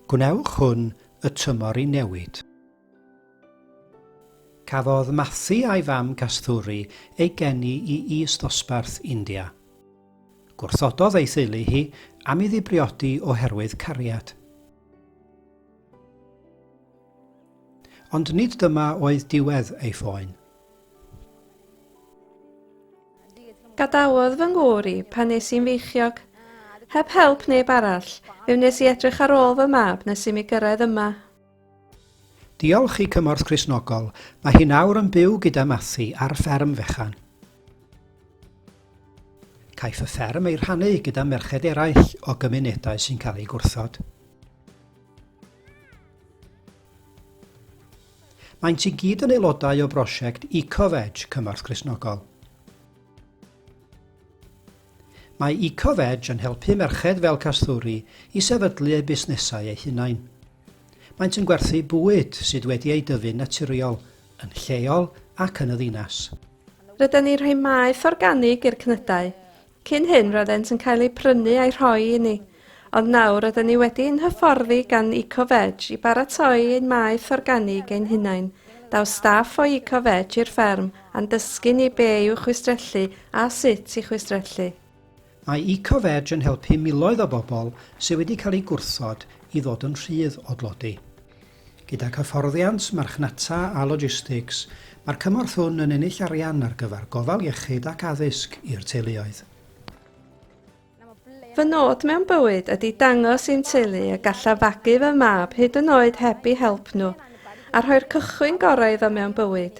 Gwnewch hwn y tymor i newid. Cafodd Matthew a'i fam Kasthuri ei geni i is-ddosbarth India. Gwrthododd ei theulu hi am iddi briodi oherwydd cariad. Ond nid dyma oedd diwedd ei phoen. Gadawodd fy ngŵr i pan nes i'n feichiog. Heb help neb arall, fe wnes i edrych ar ôl fy mab nes i mi gyrraedd yma. Diolch i Cymorth Cristnogol, mae hi nawr yn byw gyda Mathy ar fferm fechan. Caiff y fferm ei rhannu gyda merched eraill o gymunedau sy'n cael eu gwrthod. Maent i gyd yn aelodau o brosiect EcoVeg Cymorth Cristnogol. Mae EcoVeg yn helpu merched fel Kasturi i sefydlu eu busnesau eu hunain. Maent yn gwerthu bwyd sydd wedi ei dyfu'n naturiol, yn lleol ac yn y ddinas. Rydyn ni'n rhoi maeth organig i'r cnydau, Cyn hyn roedd ent yn cael eu prynu a'u rhoi i ni, ond nawr roedden ni wedi ein hyfforddi gan Eco-Veg i baratoi ein maeth organig ein hunain. Daw staff o Eco-Veg i'r fferm a'n dysgu ni be yw chwistrellu a sut i chwistrellu. Mae Eco-Veg yn helpu miloedd o bobl sydd wedi cael eu gwrthod i ddod yn rhydd o dlodi. Gydag hyfforddiant, marchnata a logistics, mae'r cymorth hwn yn ennill arian ar gyfer gofal iechyd ac addysg i'r teuluoedd. Fy nod mewn bywyd ydy dangos i'n teulu y gallaf fagu fy mab hyd yn oed heb eu help nhw, a rhoi'r cychwyn gorau iddo mewn bywyd.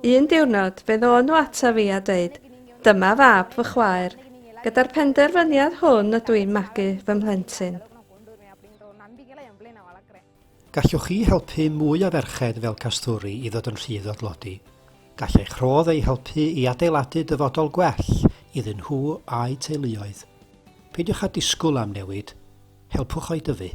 Un diwrnod, fe ddôn nhw ata fi a dweud, dyma fab fy chwaer, gyda'r penderfyniad hwn ydw i'n magu fy mhlentyn. Gallwch chi helpu mwy o ferched fel Kasturi i ddod yn rhydd o dlodi? Gall eich rhodd eu helpu i adeiladu dyfodol gwell iddyn nhw a'u teuluoedd. Peidiwch â disgwyl am newid, helpwch o'i dyfu.